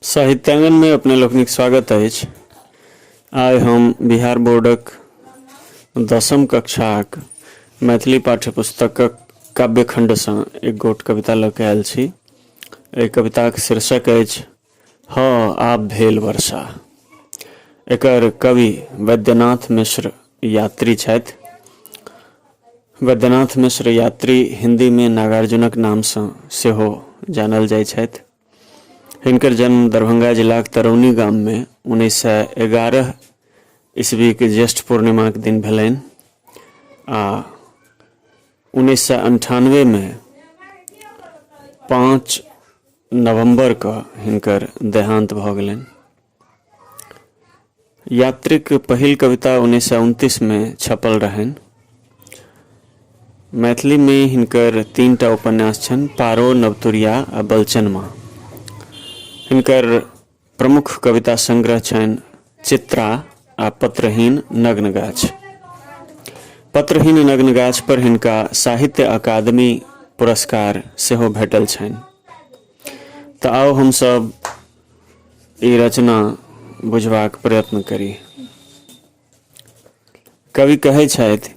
साहित्यांगनमे अपने लोकनिक स्वागत अछि आइ हम बिहार बोर्डक दसम कक्षाक मैथिली पाठ्य पुस्तकक काव्यखण्डसँ एक गोट कविता लऽ कऽ आयल छी एहि कविताक शीर्षक अछि हँ आब भेल वर्षा एकर कवि वैद्यनाथ मिश्र यात्री छथि वैद्यनाथ मिश्र यात्री हिन्दीमे नागार्जुनक नामसँ सेहो जानल जाइत छथि हिनकर जन्म दरभंगा जिलाक तरौनी गाममे उन्नैस सए एगारह ईस्वीके ज्येष्ठ पूर्णिमाक दिन भेलनि आ उन्नैस सए अन्ठानवेमे पाँच नवम्बरके हिनकर देहान्त भऽ गेलनि यात्रीक पहिल कविता उन्नैस सए उनतीसमे छपल रहनि मैथिलीमे हिनकर तीन टा उपन्यास छनि पारो नवतुरिया आ बलचनमा हिनकर प्रमुख कविता संग्रह छनि चित्रा आ पत्रहीन नग्न गाछ पत्रहीन नग्न गाछ पर हिनका साहित्य अकादमी पुरस्कार सेहो भेटल छनि तऽ आउ हमसभ ई रचना बुझबाक प्रयत्न करी कवि कहै छथि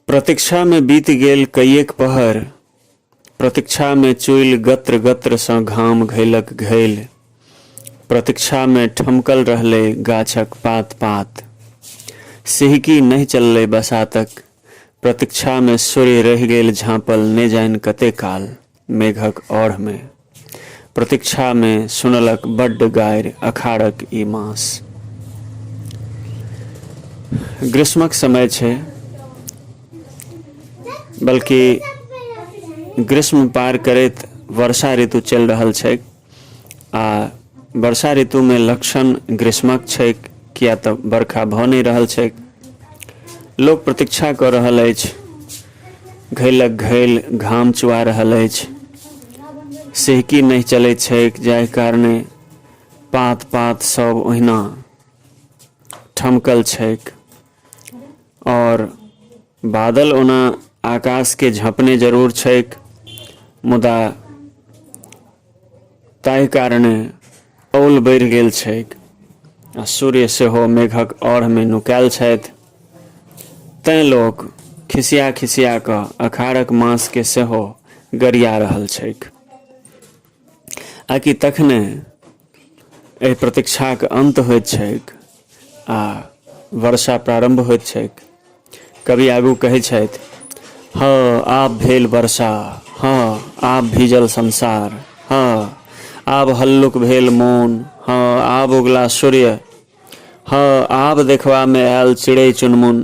प्रतीक्षामे बीत गेल कैएक पहर प्रतीक्षामे चुलि गत्र गत्रसँ घाम घैलक घैल प्रतीक्षामे ठमकल रहलै गाछक पात पात सिहकी नहि चललै बसातक प्रतीक्षामे सूर्य रहि गेल झाँपल नहि जानि कते काल मेघक औढ़ मे प्रतीक्षा मे सुनलक बड्ड गारि अखाड़क ई मास ग्रीष्मक समय छै बल्कि ग्रीष्म पार करैत वर्षा ऋतु चलि रहल छैक आ वर्षा ऋतुमे लक्षण ग्रीष्मक छैक किया तऽ बरखा भऽ नहि रहल छैक लोक प्रतीक्षा कऽ रहल अछि घैलक घैल घाम चुआ रहल अछि सिहकी नहि चलैत छैक जाहि कारणे पात पात सब ओहिना ठमकल छैक आओर बादल ओना आकाश के झँपने जरूर छैक मुदा ताहि कारणे औल बढ़ि गेल छैक आ सूर्य सेहो मेघक औढ़मे नुकायल छथि तैँ लोक खिसिया खिसिया कऽ अखाड़क मासके सेहो गरिया रहल छैक आकि तखने एहि प्रतीक्षाक अन्त होइत छैक आ वर्षा प्रारम्भ होइत छैक कवि आगू कहै छथि हँ आब भेल वर्षा हँ आब भीजल संसार हँ आब हल्लुक भेल मोन हँ आब उगला सूर्य हँ आब देखबामे आयल चिड़ै चुनमुन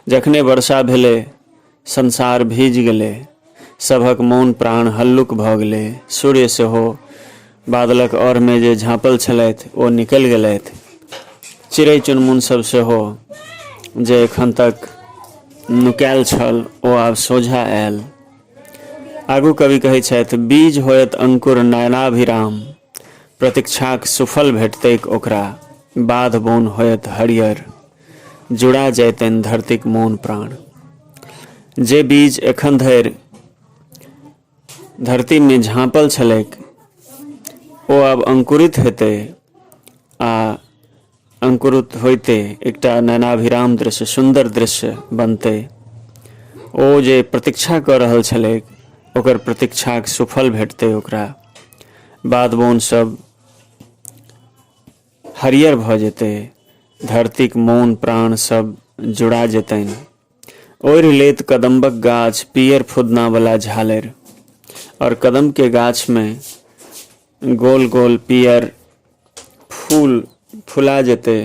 जखने वर्षा भेलै संसार भीजि गेलै। सभक मोन प्राण हल्लुक भऽ गेलै। सूर्य सेहो बादलक औरमे जे झाँपल छलथि ओ निकलि गेलथि। चिड़ै चुनमुन सभ सेहो जे एखन तक नुकायल छल ओ आब सोझा आयल। आगू कवि कहै छथि बीज होयत अंकुर नयनाभिराम प्रतीक्षाक सुफल भेटतैक ओकरा बाध-बोन होयत हरियर। जुड़ा जैतनि धरतीक मोन प्राण जे बीज एखन धरि धरतीमे झाँपल छलैक ओ आब अंकुरित हेतै आ अंकुरित होइते एकटा नैनाभिराम दृश्य सुन्दर दृश्य बनतै ओ जे प्रतीक्षा कऽ रहल छलैक ओकर प्रतीक्षाक सुफल भेटतै ओकरा बाध बोन सब हरियर भऽ जेतै धरतीक मौन प्राण सब जुड़ा जेतनि ओढ़ि लेत कदम्बक गाछ पीयर फुदनावला झालरि आओर कदमके गाछमे गोल गोल पीयर फूल फुला जेतै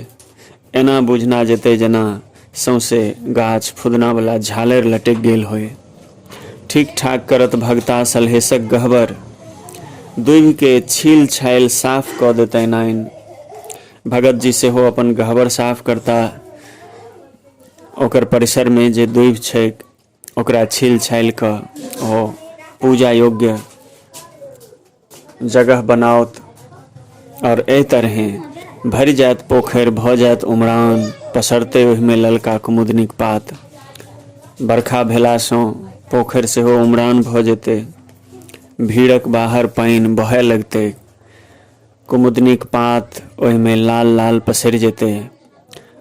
एना बुझना जेतै जेना सौंसे गाछ फुदना वला झालरि लटकि गेल होय ठीक ठाक करत भगता सलहेसक गहबर दुभिके छील छाइल साफ कऽ देतनि आइन भगत जी सेहो अपन गहबर साफ करता ओकर परिसरमे जे दुभि छैक ओकरा छील छालि कऽ ओ पूजा योग्य जगह बनाओत आओर एहि तरहे भरि जायत पोखरि भऽ जायत उमरान पसरतै ओहिमे ललका कुमुदनीक पात बरखा भेलासँ पोखरि सेहो उमरान भऽ जेतै भीड़क बाहर पानि बहय लगतै कुमुदनीक पात ओहिमे लाल लाल पसरि जेतै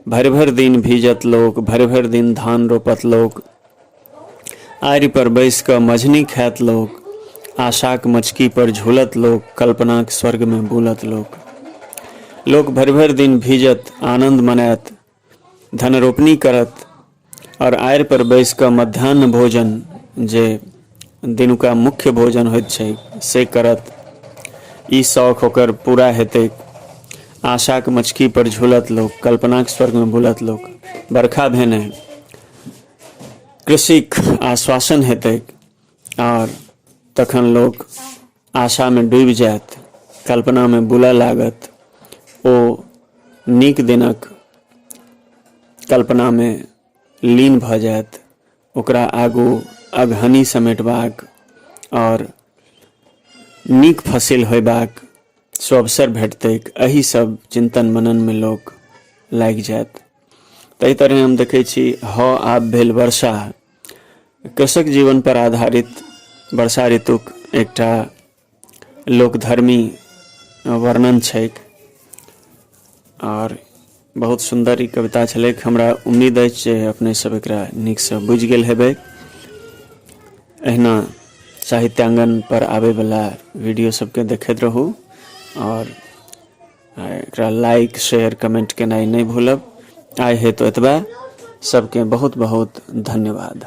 भरि भरि दिन भीजत लोक भरि भरि दिन धान रोपत लोक आरिपर बैस कऽ मझनी खायत लोक आशाक मचकीपर झूलत लोक कल्पनाक स्वर्गमे बुलत लोक लोक भरि भरि दिन भीजत आनन्द मनायत धनरोपनी करत आओर आड़ि पर बैस कऽ मध्यान्ह भोजन जे दिनुका मुख्य भोजन होइत छै से करत ई शौक ओकर पूरा हेतै आशाक मचकी पर झूलत लोक कल्पनाक स्वर्गमे बुलत लोक बरखा भेने कृषिक आश्वासन हेतै आओर तखन लोक आशामे डूबि जायत कल्पनामे बुलय लागत ओ नीक दिनक कल्पनामे लीन भऽ जायत ओकरा आगू अगहनी समेटबाक आओर नीक फसिल होयबाक सुअवसर भेटतैक एहि सब चिन्तन मननमे लोक लागि जायत ताहि तरहे हम देखै छी हऽ आब भेल वर्षा कृषक जीवन पर आधारित वर्षा ऋतुक एकटा लोकधर्मी वर्णन छैक आओर बहुत सुन्दर ई कविता छलैक हमरा उम्मीद अछि जे अपने सब एकरा नीकसँ बुझि गेल हेबै एहिना साहित्यांगन पर आबयवला वीडियो सबके देखैत रहू आओर आ एकरा लाइक शेयर कमेंट केनाइ नहि भूलब आइ हेतु एतबा सबके बहुत बहुत धन्यवाद